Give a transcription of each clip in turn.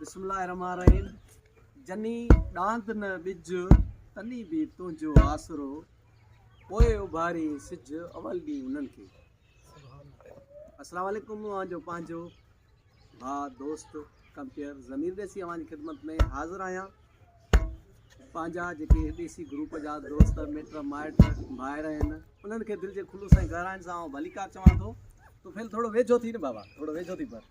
بسم الله الرحمن الرحيم جني ڏاند نه ٻج تني به تنهنجو آسرو پوء اڀاري سج اول ڏينهن انهن کي السلام علیکم اوهان جو پنهنجو ڀا دوست ڪمپيئر ضمير ڏيسي اوهان جي خدمت ۾ حاضر آهيان پنهنجا جيڪي ڏيسي گروپ جا دوست مٽ مائٽ ڀائر آهن انهن کي دل جي خلوص ۽ گهرائن سان ڀليڪار چوان ٿو تو ڦيل ٿورو ويجهو ٿي نه بابا ٿورو ويجهو ٿي پر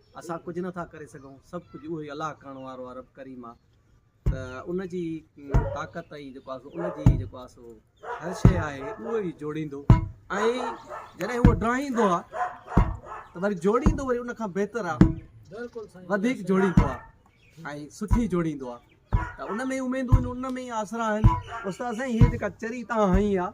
اسان ڪجهه نه ٿا ڪري سگهون، سڀ ڪجهه اهو ئي الله ڪرڻ وارو آهي رب ڪريم آهي ته ان جي طاقت ۽ جيڪو آهي سو ان جي جيڪو آهي سو هر شيء آهي اهو ئي جوڙيندو ۽ جڏهن اهو ڊاهيندو آهي ته وري جوڙيندو وري ان کان بهتر آهي وڌيڪ جوڙيندو آهي ۽ سٺي جوڙيندو آهي ته ان ۾ اميدون ان ۾ آسرا آهن استاد سائين هي جيڪا چري تان هنئي آهي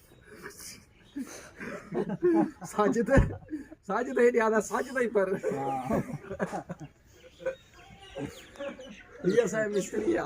ساجد ساجد هيڏي آدا ساجد هي پر هي اسان مستري آ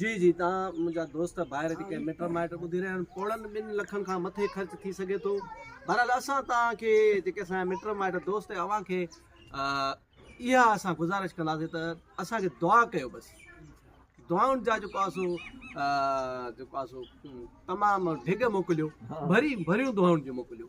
جي جي تان منهنجا دوست ڀائر جي ڪي مٽ مائٽ ٻڌي رهيا آهن پوڙهن ٻن لکن کان مٿي خرچ ٿي سگهي ٿو بهرحال اسان تان کي جيڪي اسان مٽ مائٽ دوست اوهان کي اها اسان گزارش ڪنداسين ته اسان کي دعا ڪيو بس دعائن جا جيڪو آسو جيڪو آسو تمام ڊگهه موڪليو ڀري ڀريون دعائن جي موڪليو